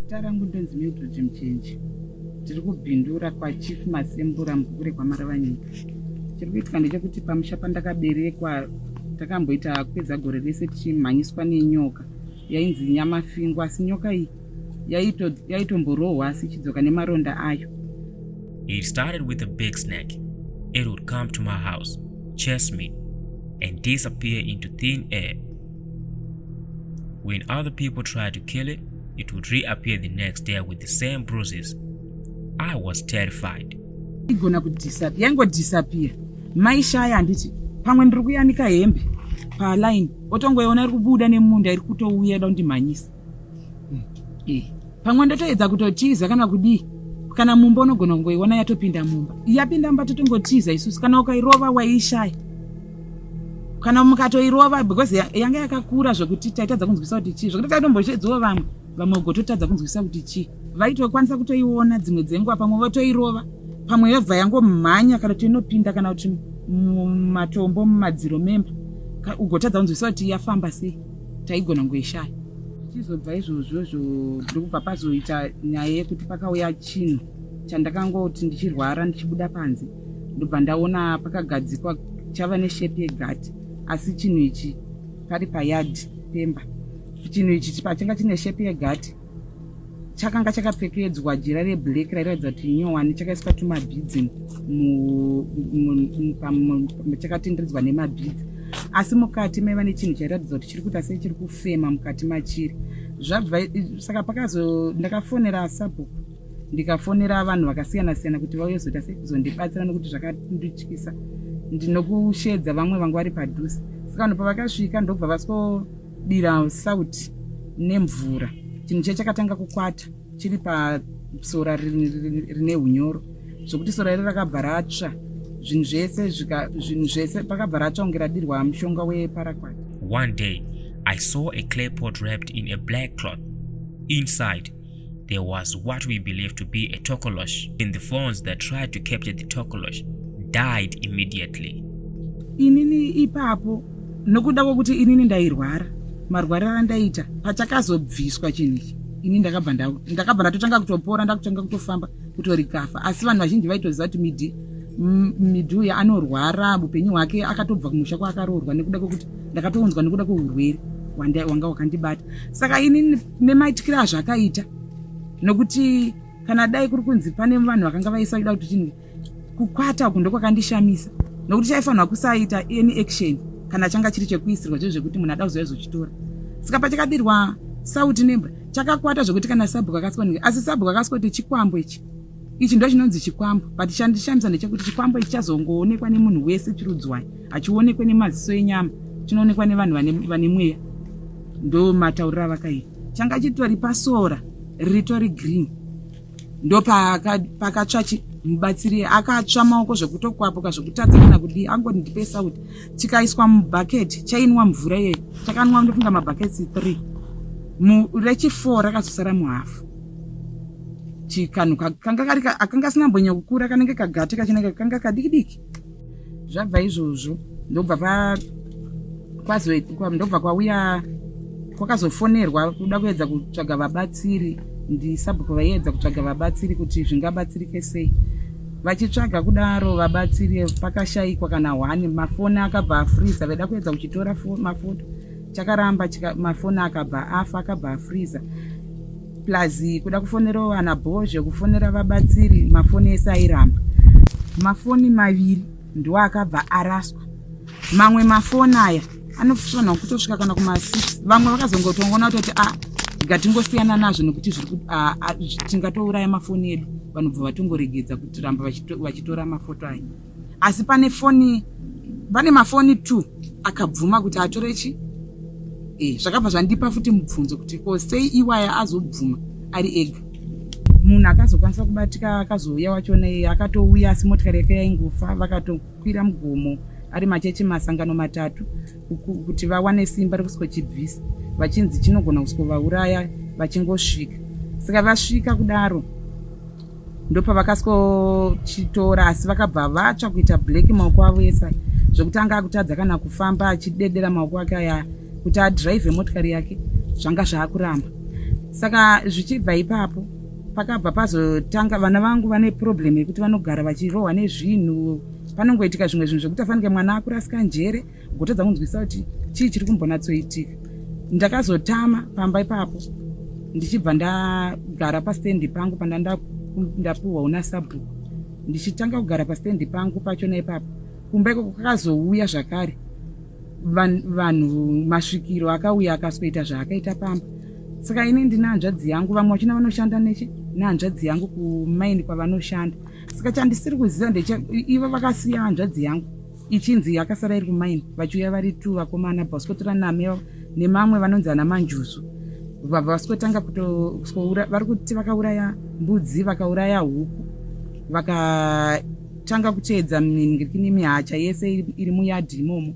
Zita rangu ndonzi Mildred Mchenji. Tiri kubhindura kwaChief Masembura Mvukure kwaMaravanyika. Chiri kuitika ndechekuti pamusha pandakaberekwa takamboita kupedza gore rese tichimhanyiswa nenyoka yainzi nyamafingwa asi nyoka iyi yaitomborohwa asi ichidzoka nemaronda ayo It started with a big snake. It would come to my house, chase me, and disappear into thin air. When other people tried to kill it, it would reappear the next day with the same bruises. I was terrified. igona kudisappear yangodisappear maishaya handiti pamwe ndiri kuyanika hembe paline otongoiona iri kubuda nemunda iri kutouya da kundimhanyisa mm. eh, pamwe ndotoedza kutotiza kana kudii kana mumba unogona kungoiona yatopinda mumba yapinda mumba totongotiza isusu kana ukairova waiishaya kana mukatoirova because yanga yakakura zvekuti taitadza kunzwisa kuti chii zvekuti taitomboshedziwo vamwe vamwe ugototadza kunzwisa kuti chii vaitokwanisa kutoiona dzimwe dzenguva pamwe votoirova pamwe yobva yangomhanya kana kuti inopinda kana kuti mumatombo mumadziro memba ugotadza kunzwisa kuti yafamba sei taigona kungoishaya tichizobva izvozvozvo ndiri kubva pazoita nyaya yekuti pakauya chinhu chandakangoti ndichirwara ndichibuda panze ndobva ndaona pakagadzikwa chava neshepi yegati asi chinhu ichi pari payadhi pemba chinhu ichi pachanga chine shepi yegati chakanga chakapfekedzwa jira reblack rairatidza kuti nyowani chakaiswa tumabhidzi chakatenderedzwa nemabhidzi asi mukati maiva nechinhu chairatidza kuti chiri kuita sei chiri kufema mukati machiri zvabva saka pakazo ndakafonera asabhuku ndikafonera vanhu vakasiyana siyana kuti vauye zoita sei kuzondibatsira nokuti zvakandityisa ndinokushedza vamwe vanga vari padhuze saka vanhu pavakasvika ndobva vasko Dira sauti nemvura. Chinhu chiya chakatanga kukwata chiri pasora rine unyoro zvokuti sora iri rakabva ratsva zvinhu zvese zvinhu zvese pakabva ratsva kunge radirwa mushonga weparaquat one day i saw a clay pot wrapped in a black cloth inside there was what we believe to be a tokolosh in the phones that tried to capture the tokolosh died immediately inini ipapo nokuda kwokuti inini ndairwara marwariro andaita pachakazobviswa chinhu ichi ini ndakabva ndakabva ndatotanga kutopora ndakutanga kutofamba kutorikafa asi vanhu vazhinji vaitoziva kuti midi midhi uya anorwara upenyu hwake akatobva kumusha kwaakaroorwa nekuda kwekuti ndakatounzwa nekuda kweurwere wanga wakandibata saka inini kune maitikire azvakaita nokuti kana dai kuri kunzi pane vanhu vakanga vaisa kuda kuti chinhu kukwata uku ndokwakandishamisa nokuti chaifanirwa kusaita any action kana changa chiri chekuisirwa zve zvekuti munhu ada kuzouya zochitora saka pachakadirwa sauti nembwa chakakwata zvekuti kana sabhuku akasika asi sabhuku akasika kuti chikwambo ichi ichi ndochinonzi chikwambo but chandishamisa ndechekuti chikwambo ichi chazongoonekwa nemunhu wese chirudzwai hachionekwe nemaziso enyama chinoonekwa nevanhu vane mweya ndo matauriro avakaita changa chitori pasora ritori green ndo pakatsva mubatsiri akatsva maoko zvekutokwapuka zvekutadza kana kudii angoti ndipe sauti chikaiswa mubhaketi chainwa mvura iyeyo chakanwa ndofunga mabhaketi three rechifo rakazosara muhafu chikanhu kanga kari akanga asina mbonyo kukura kanenge kagate kachinenge kanga kadiki diki zvabva izvozvo ndobva pa kwazo ndobva kwauya kwakazofonerwa kuda kuedza kutsvaga vabatsiri ndisabhuku vaiedza kutsvaga vabatsiri kuti zvingabatsirike sei vachitsvaga kudaro vabatsiri pakashaikwa kana hwani mafoni akabva afriza vaida kuedza kuchitora mafoto chakaramba chika, mafoni akabva afa akabva afreezer plus kuda kufonera vana bhozhe kufonera vabatsiri mafoni ese airamba mafoni maviri ndiwo akabva araswa mamwe mafoni aya anofanirwa kutosvika kana kumasix vamwe vakazongotongona kutoti a ah, ngatingosiyana nazvo nekuti zviri ah, ah, tingatouraya mafoni edu vanobva vatongoregedza kutiramba vachitora mafoto aya asi pane foni pane mafoni two akabvuma kuti atore chi e, zvakabva zvandipa futi mubvunzo kuti ko sei iwaya azobvuma ari ega munhu akazokwanisa kubatika akazouya wachona iye akatouya asi motikari yake yaingofa vakatokwira mugomo ari machechi masangano matatu kuti vawane simba rekuskochibvisa vachinzi chinogona kuskovauraya vachingosvika saka vasvika kudaro ndopavakaskochitora asi vakabva vatsva kuita black maoko avo ese zvekuti anga akutadza kana kufamba achidedera maoko ake aya kuti adrive motikari yake zvanga zvaakuramba saka zvichibva ipapo pakabva pazotanga vana vangu vane problem yekuti vanogara vachirohwa nezvinhu panongoitika zvimwe zvinhu zvekuti afanike mwana akurasika njere kutadza kunzwisa kuti chii chiri kumbonatsoitika ndakazotama pamba ipapo ndichibva ndagara pastendi pangu pandanda ndapuhwa una sabhuku ndichitanga kugara pastendi pangu pacho naipapo kumba ikoko kakazouya zvakare vanhu masvikiro akauya akasoita zvaakaita pamba saka ini ndine hanzvadzi yangu vamwe vachina vanoshanda neche nehanzvadzi yangu kumaini kwavanoshanda saka chandisiri kuziva ndecha ivo vakasiya hanzvadzi yangu ichinzi yakasara iri kumaini vachiuya vari two vakomana bva vasikotora name nemamwe vanonzi ana manjuzu vabva vasikotanga kutoura vari kuti vakauraya mbudzi vakauraya huku vakatanga kuteedza mingirikini mihacha yese iri muyadhi imomo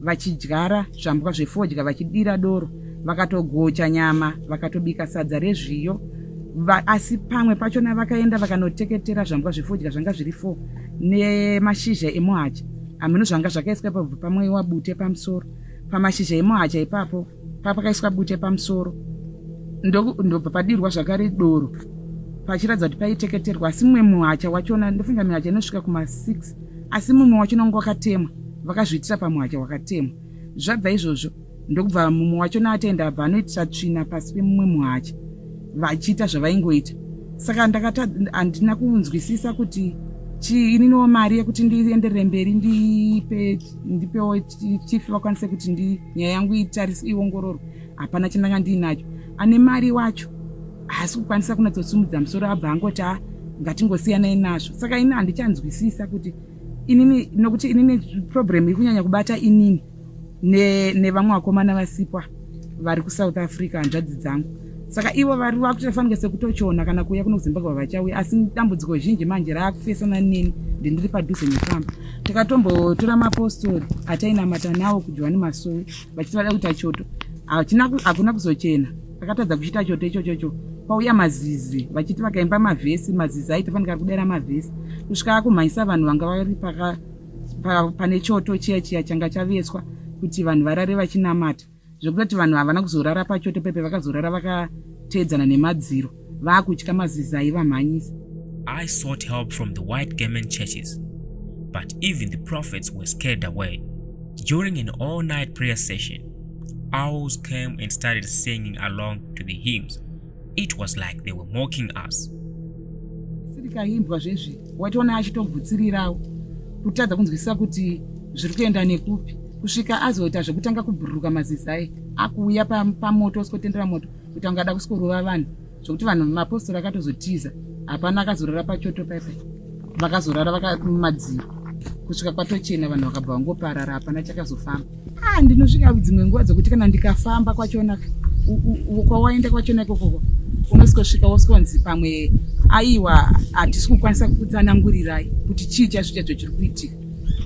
vachidyara zvambwa zvefodya vachidira doro vakatogocha nyama vakatobika sadza rezviyo asi pamwe pachona vakaenda vakanoteketera zvambwa zvefodya zvanga zviri four nemashizha emuhacha hameno zvanga zvakaiswa pabva pamweiwa bute pamusoro pamashizha emuhacha ipapo papakaiswa bute pamusoro ndobva padirwa zvakare doro pachiratidza kuti paiteketerwa asi mumwe muhacha wachona ndofunga mihacha inosvika kuma6 asi mumwe wachona wanga wakatemwa vakazviitira pamuhacha wakatemwa zvabva izvozvo ndokubva mumwe wacho naatenda abva anoitisa tsvina pasi pemumwe muhacha vachiita zvavaingoita saka ndakata handina kunzwisisa kuti chii ininiwo mari yekuti ndienderere mberi ndipe ndipewo chifi vakwanise kuti ndi nyaya yangu itarise iongororwe hapana chandanga ndiinacho ane mari wacho haasi kukwanisa kunatsosimudza musoro abva angoti a ngatingosiyanai nazvo saka ini handichanzwisisa kuti inini nokuti inini problem iri kunyanya kubata inini nevamwe ne vakomana vasikwa vari kusouth africa hanzvadzi dzangu saka ivo vari vakutofanira sekutochiona kana kuuya kuno kuzimbabwe vachauya asi dambudziko zhinji manje raakufesana neni ndindiri padhuze nepamba takatombotora mapostori atainamata nawo kujohani masowe vachiti vada kuita choto hakuna kuzochena akatadza kuchiita choto ichochocho kwauya mazizi vachiti vakaimba mavhesi mazizi aitofanika kudera mavhesi kusvika akumhanyisa vanhu vanga vari paka pane choto chiya chiya changa chaveswa kuti vanhu varare vachinamata zvekutoti vanhu havana kuzorara pachoto pepe vakazorara vakateedzana nemadziro vaakutya maziza aivamhanyisa i sought help from the white garment churches but even the prophets were scared away during an all night prayer session owls came and started singing along to the hymns It was like they were mocking us. Sirikaimbwa zvezvi waitoona achitogutsirirawo kutadza kunzwisisa kuti zviri kuenda nekupi kusvika azoita zvekutanga kubhururuka mazizai akuuya pamoto usikotendera moto kuti anga ada kusikorova vanhu zvekuti vanhu mapostori akatozotiza hapana akazorara pachoto paipai vakazorara vakamadziro kusvika kwatochena vanhu vakabva vangoparara hapana chakazofamba Ah, ndinosvika dzimwe nguva dzokuti kana ndikafamba kwachona kwawaenda kwachona ikokoko unosvika wosonzi pamwe aiwa hatisi kukwanisa kutsanangurirai kuti chii chazvo chacho chiri kuitika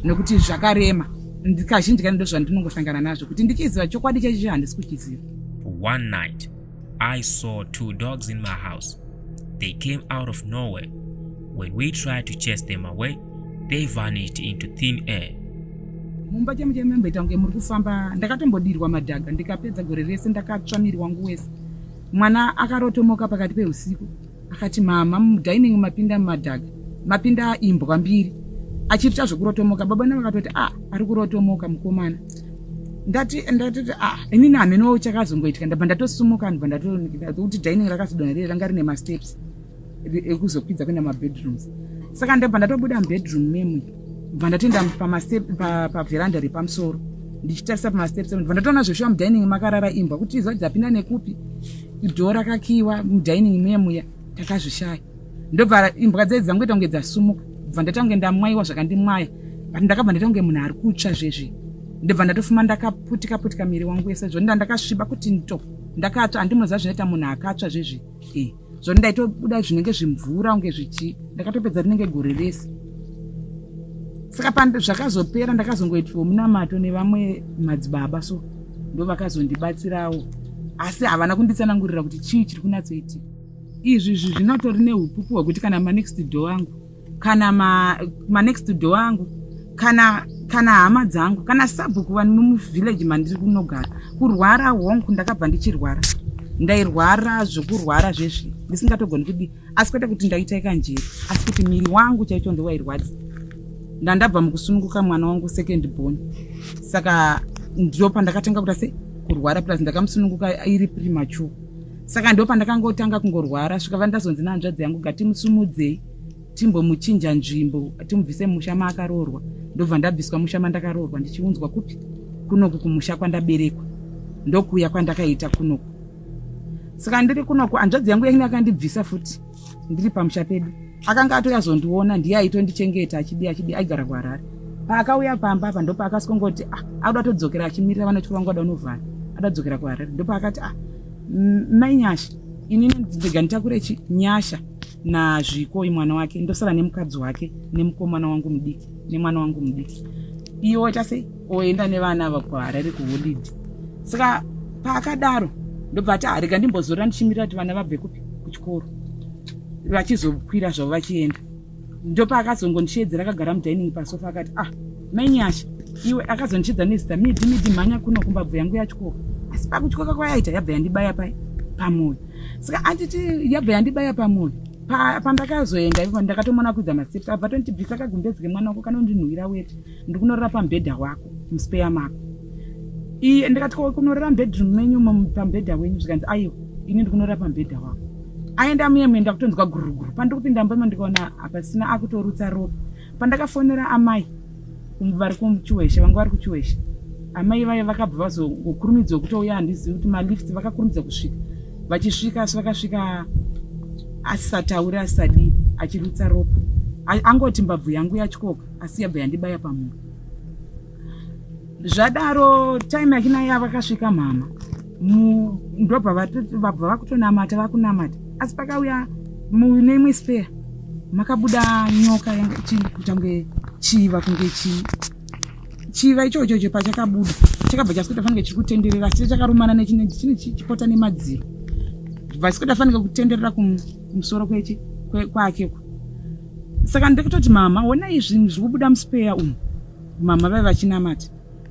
nokuti zvakarema ndikazhinji kani ndozvandinongosangana nazvo kuti ndichiziva chokwadi chachicho handisi kuchiziva one night i saw two dogs in my house they came out of nowhere when we tried to chase them away they vanished into thin air. mumba chemu chemu mamboita kunge muri kufamba ndakatombodirwa madhaga ndikapedza gore rese ndakatsva miri wangu wese mwana akarotomoka pakati peusiku akati mama mudining mapinda mumadhaga mapinda imbwa mbiri achirita zvekurotomoka baba na vakatoti a ah, ari kurotomoka mukomana ndati ndatoti a ah, inini hamenowo chakazongoitika ndabva ndatosumuka ndibva ndatokuti dining rakazodonherera ranga rine masteps ekuzokwidza kuenda mabedrooms saka ndabva ndatobuda mubedroom memwe bva ndatoenda paveranda repamusoro ndichitarisa pamasteps bva ndatoona zveshuwa mudining makarara imbwa kuti izwa dzapinda nekupi dho rakakiwa mudining memuya takazvishaya ndobva imbwa dzai dzangu ita kunge dzasumuka bva ndatange ndamwaiwa zvakandimwaya but ndakabva ndaita kunge munhu ari kutsva zvezvi ndobva ndatofuma ndakaputika putika miri wangu wese zvo ndandakasviba kuti nto ndakatsva handimoziva zvinoita munhu akatsva zvezvi e zvoni ndaitobuda zvinenge zvimvura kunge zvichi ndakatopedza rinenge gore rese saka zvakazopera ndakazongoitwawo munamato nevamwe madzibaba so ndo vakazondibatsirawo asi havana kunditsanangurira kuti chii chiri kunatsoitika izvi izvi zvinotori neupupu hwekuti kana manext door angu kana ma, ma next door angu kana kana hama dzangu kana sabhuku vani mumuvillage mandiri kunogara kurwara honku ndakabva ndichirwara ndairwara zvekurwara zvezvi ndisingatogoni kudii asi kwete kuti ndaita ikanjeri asi kuti miri wangu chaicho ndowairwadza ndandabva mukusununguka mwana wangu second born saka ndo pandakatanga kuta se kurwara plus ndakamusununguka iri premature saka ndo pandakangotanga kungorwara svika vandazonzi nehanzvadzi yangu gatimusumudzei timbomuchinja nzvimbo timubvise musha maakaroorwa ndobva ndabviswa musha mandakaroorwa ndichiunzwa kupi kunoku kumusha kwandaberekwa ndokuuya kwandakaita kunoku saka ndiri kunoku hanzvadzi yangu yainge yakandibvisa futi ndiri pamusha pedu akanga atouya zondiona ndiye aitondichengeta achidi achidi aigara kuharare paakauya pamba apa ndopaakasongoti ah, auda todzokera achimirira vanoti vangu ada unovhara ada kudzokera kuharare ndopaakati ah, mai nyasha inini ndega nditakure chi nyasha nazviko imwana wake ndosara nemukadzi wake nemukomana wangu mudiki nemwana wangu mudiki iwe waita sei oenda nevana ava kuharare kuholidi saka paakadaro ndobva ati harega ndimbozorora ndichimirira kuti vana vabve kupi kuchikoro vachizokwira zvavo vachienda ndopaakazongondichiedzera akagara mudining pasofa akati ah mainyasha iwe akazondichidza nezita midi midi mhanya kuno kumbabvu yangu yachikoka asi pakuchikoka kwayaita yabva yandibaya pa pamwoyo saka anditi yabva yandibaya pamwoyo pandakazoenda ipo ndakatomona kuidza maseps abva tondibvisa kagumbezi kemwana wako kanondinhuwira wete ndikunorara pamubhedha wako muspeya mako iye ndikati ko kunorara mubedroom menyu pamubhedha wenyu zvikanzi aiwa ini ndikunorara pamubhedha wako aenda muyemwe ndakutonzwa guruguru pandiri kupinda mumba imo ndikaona hapasina akutorutsa ropa pandakafonera amai vari kuchiweshe vanga vari kuchiweshe amai vaye vakabva vazokurumidza kutouya handizivi kuti malift vakakurumidza kusvika vachisvika asi vakasvika asisatauri asadii achirutsa ropa angoti mbabvu yangu yatyoka asi yabva yandibaya pamhuru zvadaro time yakina iya vakasvika mhama ndobva vabva vakutonamata vakunamata asi pakauya mune imwe spare makabuda nyoka yanga ichitange chiva kunge chii chiva ichocho cho pachakabuda chakabva chasikuita fanike chiri kutenderera asi chakarumana nechine chipota nemadziro vasikuita fanike kutenderera kumusoro kwechi kwake kwa, saka ndokutoti mama ona izvinhu zviri kubuda muspeya umu mama vave vachinamata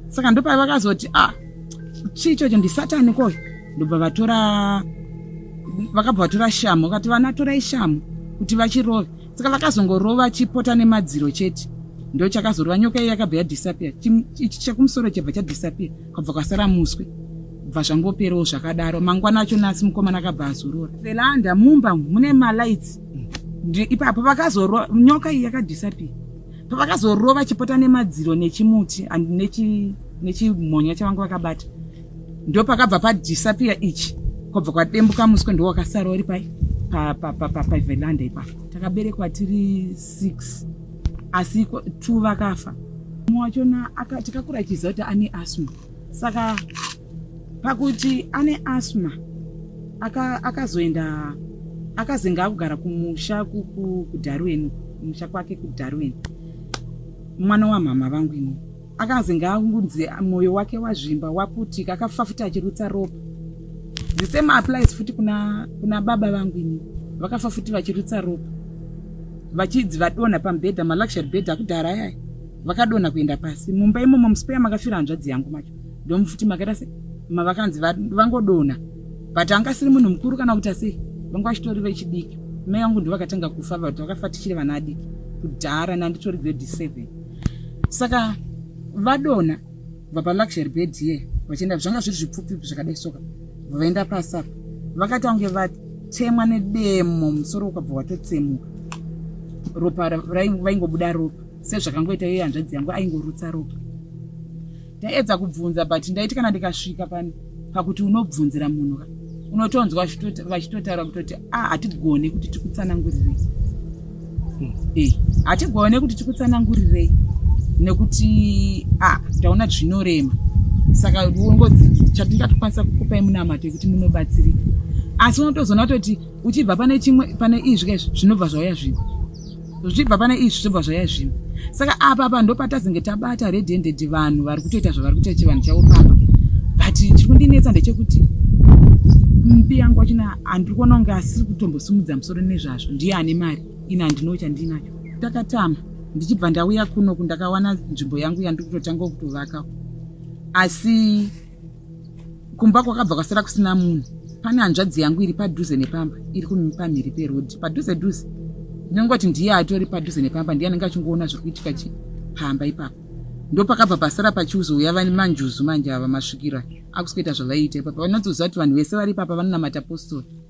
saka ndopai vakazoti ah chii chocho ndisatani koyo ndobva vatora vakabva vatora shamu vakati vana torai shamu kuti vachirove saka vakazongorova chipota nemadziro chete ndo chakazorova nyoka iyo yakabva yadisappear ichi chekumusoro chabva chadisappear kabva kwasara muswe bva zvangoperewo zvakadaro mangwana acho nasi mukomana akabva azorora felanda mumba mune malights ipapo vakazorova nyoka iyi yakadhisapi pavakazorova chipota nemadziro nechimuti and nechimhonya chavanga vakabata ndo pakabva padhisapiya ichi kwabva kwadembuka muswe ndo wakasara uri pai pavelanda ipapo takaberekwa tiri six asi two vakafa mumwe wachona tikakuratiza kuti ane asma saka pakuti ane asma akazoenda aka akazenga akugara kumusha kudarwen kumusha kwake kudarwen mwana wamhama vangu ini akazenga akunzi mwoyo wake wazvimba waputika akafafuta achirutsa ropa the same applies futi kuna, kuna baba vangu ini vakafa futi vachirutsa ropa vachidzi vadonha pamubhedha maluxury bhedha akudhara yaya vakadonha kuenda pasi mumba imomo musipeya makafira hanzvadzi yangu macho ndomufuti makaita se mavakanzi vangodonha but anga asiri munhu mukuru kana kuti asi vanga vachitori vechidiki mai vangu ndovakatanga kufa but vakafa tichiri vana adiki kudhara nanditori grade seven saka vadonha kubva paluxury bed ye vachienda zvanga zviri zvipfupfupi zvakadai soka vaenda pasi apa vakati vange vatemwa nedemo musoro ukabva watotsemuka ropa vaingobuda ropa sezvakangoita iye hanzvadzi yangu aingorutsa ropa ndaedza kubvunza but ndaiti kana ndikasvika pani pakuti unobvunzira munhu unotonzwa vachitotaura kutoti a ah, hatigone kuti tikutsanangurirei hmm. eh, hatigone kuti tikutsanangurirei nekuti a ah, taona zvinorema saka ungodzi chatingatokwanisa kukupai munamato yekuti munobatsirika asi unotozoona kutoti uchibva pane chimwe pane izvi kaizvi zvinobva zvauya zvino zvibva pane izvi zvobva zvaya zvino saka apa apa ndopatazenge tabata red handed vanhu vari kutoita zvavari kutoita chivanhu chavo pamba but chiri kundinetsa ndechekuti mbi yangu wachina andiri kuona kunge asiri kutombosimudza musoro nezvazvo ndiye ane mari ini handino chandinacho takatama ndichibva ndauya kuno kundakawana nzvimbo yangu yandiri kutotanga kutovaka asi kumba kwakabva kwasara kusina munhu pane hanzvadzi yangu iri padhuze nepamba iri pamhiri perodhi padhuze dhuze ndinongoti ndiye atori padhuze nepamba ndiye anenge achingoona zviri kuitika chi pamba ipapo ndopakabva pasara pachiuzouya vani manjuzu manje ava masvikira akuzoita zvavaiita ipapa vanotoziva kuti vanhu vese vari ipapa vanonamata postori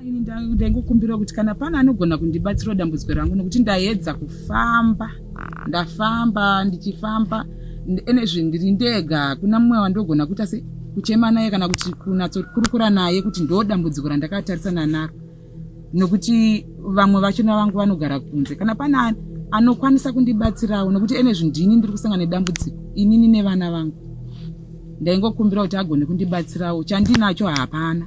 Ini ndaingokumbira kuti kana pana anogona kundibatsirawo dambudziko rangu nekuti ndaedza kufamba ndafamba ndichifamba enezvi ndiri ndega hakuna mumwe wandogona kuita se kuchema naye kana kuti kunatsokurukura naye kuti ndo dambudziko randakatarisana naro nokuti vamwe vachona vangu vanogara kunze kana pana anokwanisa kundibatsirawo nokuti enezvi ndini ndiri kusanga nedambudziko inini nevana vangu ndaingokumbira kuti agone kundibatsirawo chandinacho hapana